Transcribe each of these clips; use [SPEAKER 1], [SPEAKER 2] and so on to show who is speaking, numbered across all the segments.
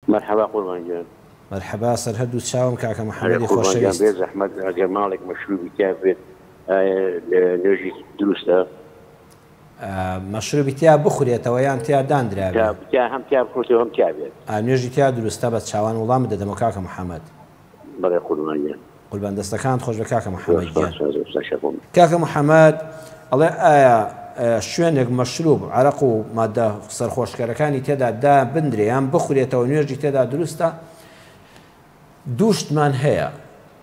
[SPEAKER 1] مەرحەبا قوربان گیان. مەرحەبا سەر هەردوو
[SPEAKER 2] چاوم کاکە هەرە محەمەدی قوربان گیان خۆشەویست. بێزەحمەت
[SPEAKER 1] ئەگەر
[SPEAKER 2] ماڵێک
[SPEAKER 1] مەشروبی تیا بێت ئایە نوێژی دروستە؟ مەشروبی
[SPEAKER 2] تیا بخورێتەوە یان تیا دانرابێ؟ تیا تیا هەم تیا بخورێتەوە
[SPEAKER 1] هەم تیا بێت. ئا نوێژی تیا دروستە
[SPEAKER 2] بەس چاوان وڵامت دەدەمەوە کاکە محەمەد. بەڵێ
[SPEAKER 1] قوربان گیان. قوربان دەستەکانت
[SPEAKER 2] خۆشبێ کاکە محمد گیان. کاکە
[SPEAKER 1] محمد
[SPEAKER 2] ئەڵێ ئایا شوێنێک مەشروب عەرەق و مادە سەرخۆشکەرەکانی تێدا دابندرێ یان بخورێتەوە نوێژی تێدا دروستە دوو شتمان هەیە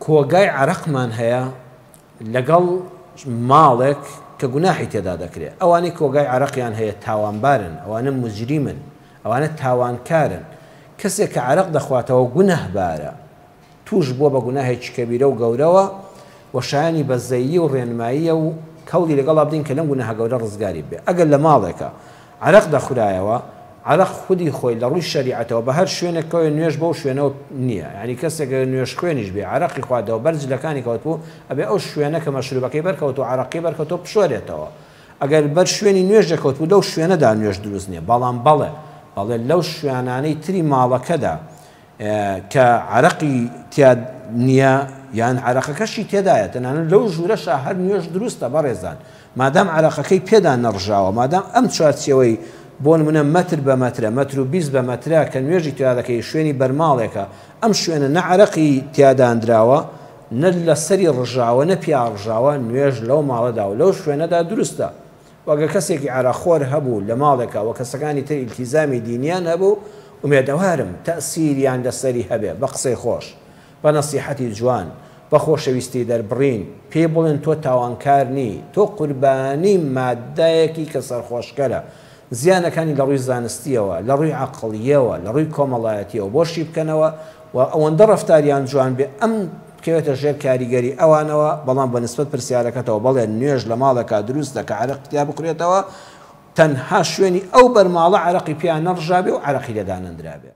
[SPEAKER 2] کۆگای عەرەقمان هەیە لەگەڵ ماڵێک کە گوناحی تێدا دەکرێت ئەوانەی کۆگای عەرەقیان هەیە تاوانبارن ئەوانە مجریمن ئەوانە تاوانکارن، کەسێک کە عەرەق دەخواتەوە گوناهبارە، تووش بووە بە گوناهێکی کەبیرە و گەورەوە و شایانی بەزەیی و ڕێنماییە و هەوڵی لەگەڵا بدەین کە لەم گوناهە گەورە ڕزگاری ببێ. ئەگەر لە ماڵێکا عەرەق دەخورایەوە، عەرەق خودی خۆی لە ڕووی شەریعەتەوە بە هەر شوێنێک کەوێ نوێژ بەو شوێنەوە نییە، یانی کەسێک گەر نوێژخوێنیش بێ عەرەقی خواردەوە بەر جلەکانی کەوتبوو، ئەبێ ئەو شوێنە کە مەشروبەکەی بەرکەوتووە عەرەقی بەرکەوتووە بشۆرێتەوە. ئەگەر بەر شوێنی نوێژ دەکەوتبوو لەو شوێنەدا نوێژ دروست نیە بەڵام بەڵێ بەڵێ لەو شوێانانەی تری ماڵەکەدا کە عەرەقی تیا نیە یان عەرەقەکەشی تێدایە تەنانەت لەو ژوورەشا هەر نوێژ دروستە بەڕێزان مادام عەرەقەکەی پێدا نەڕژاوە مادام ئەم چوارچێوەی بۆ نمونە مەتر بە مەترە مەتر و بیست بە مەترە کە نوێژی تیا دەکەی شوێنی بەرماڵێکە ئەم شوێنە نە عەرەقی تیاداندراوە نە لە سەری ڕژاوە نە پیا ڕژاوە نوێژ لەو ماڵەدا و لەو شوێنەدا دروستە و ئەگەر کەسێکی عەرەق خۆر هەبوو لە ماڵێکا و کەسەکانی تر ئیلتیزامی دینیان هەبوو ئومێدەوارم تەئسیریان لە سەری هەبێ بە قسەی خۆش بە نەسیحەتی جوان بە خۆشەویستی دەربڕین پێی بڵێن تۆ تاوانکار نی تۆ قوربانی ماددایەکی کە سەرخۆشکەرە زیانەکانی لە ڕووی زانستییەوە، لە ڕووی عەقڵییەوە، لە ڕووی کۆمەڵایەتییەوە بۆ شی بکەنەوە و ئەوەندە ڕەفتاریان جوان بێ ئەم بکەوێتە ژێر کاریگەری ئەوانەوە، بەڵام بە نسبەت پرسیارەکەتەوە بەڵێ نوێژ لە ماڵێکا دروستە کە عەرەق تیا بخورێتەوە تەنها شوێنی ئەو بەرماڵە عەرەقی پیا نەڕژابێ و عەرەقی لێ دانەندرابێ.